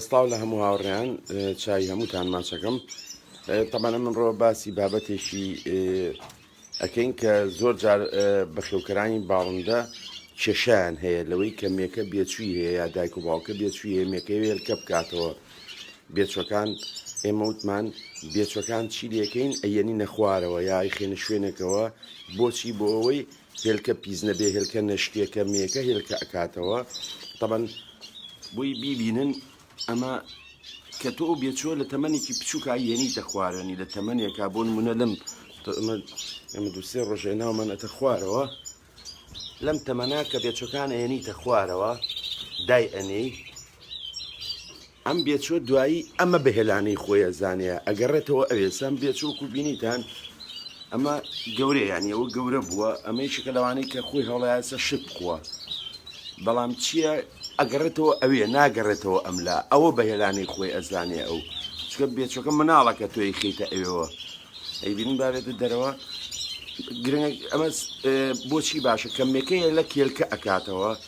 سڵاو لە هەموو هاوڕێیان چای هەمووتان ماچەکەم تەمانە من ڕۆ باسی بابەتێکی ئەکەین کە زۆر جار بەخێوکەرانی باڵندە کێشیان هەیە لەوەی کە مێکە بێچووی هەیە یا دایک و باوکە بێچووی هەیە مێکەی وێلکە بکاتەوە بێچەکان ئێمە وتمان بێچەکان چی لەکەین ئەیەنی نەخوارەوە یای خێنە شوێنێکەوە بۆچی بۆ ئەوەی هێلکە پیس نەبێ هێلکە نەشکێ کە مێکە هێلکە ئەکاتەوە تەبەن بوی بیبینن ئەمە کە تۆ ئەو بێچوە لە تەمەنێکی بچووکە یەنیتە خوارەوەنی لە تەمەنێکا بۆ نمونە لەم ئەمە دوسێ ڕۆژێ ناومان ئەتە خوارەوە لەم تەمەنا کە بێچەکان ئەێنیتە خوارەوە دای ئەنێی ئەم بێچۆ دوایی ئەمە بە هێلانەی خۆیە زانەیە ئەگەڕێتەوە ئەوێ سام بێچۆکو بینیتان ئەمە گەورەیان ئەوە گەورە بووە ئەمەی شکە لەوانەی کە خۆی هەوڵایەسە شت بخووە بەڵام چییە ئەگەڕێتەوە ئەوێ ناگەڕێتەوە ئەملا ئەوە بە هێلانەی خۆی ئەزانێ ئەو چکە بێچۆکە مناڵەکە تۆی خیتە ئەوێەوە ئەیبین بابێتە دەرەوە گرنگ ئەمە بۆچی باشە کەمێکەیە لە کێلکە ئەکاتەوە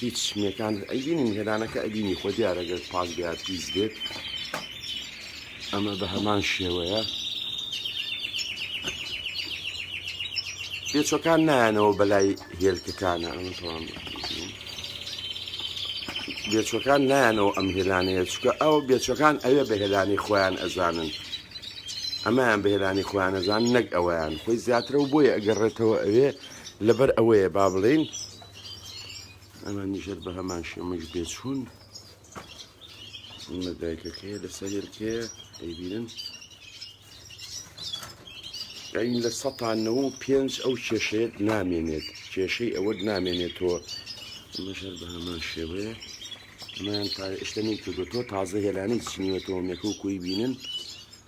هیچ مێکان ئەیبینی میهرانەکە ئەبینی خۆ دیارەگەر پاک بێت پیس بێت ئەمە بە هەمان شێوەیە پێچەکان نایەنەوە بەلای هێلکەکانە ئەمە تەوام بێچەکان نایەنەوە ئەم هێلانەیە چکە ئەو بێچەکان ئەوێ بە هێلانی خۆیان ئەزانن ئەمایان بە هێلانی خۆیانەزان نەک ئەویان خۆی زیاترە و بۆیە ئەگەڕێتەوە ئەوێ لەبەر ئەوەیە با بڵین ئەمە نیژەر بە هەمان شێمەش بێچوون ئەمە دایکەکەیە لە سەرێلکەیە دەیبینن ئەین لە سەتانەوە و پێنج ئەو کێشەیەت نامێنێت کێشەی ئەوەت نامێنێتەوە مەژەر بە هەمان شێوەیە ئەمەیان تا شتەنی کردو تۆ تازە هێلانەی چنیوەتەوە مێکە و کوی بینن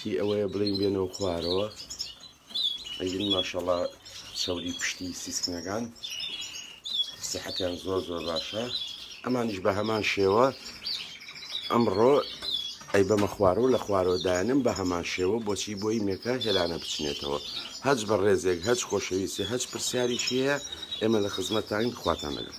هی ئەوەیە بڵین بێنەوە خوارەوە ئەگین ماشەڵا چاوری پشتی سیسکنەکان سیحەتیان زۆر زۆر باشە ئەمانیش بە هەمان شێوە ئەمڕۆ ئەی بەمە خوارەوە لە خوارەوە دایانم بە هەمان شێوە بۆچی بۆی مێکە هێلانە بچنێتەوە هەچ بە ڕێزێک هەچ خۆشەویستی هەچ پرسیاریشیە ئێمە لە خزمەتتان خواتان لەگەڵ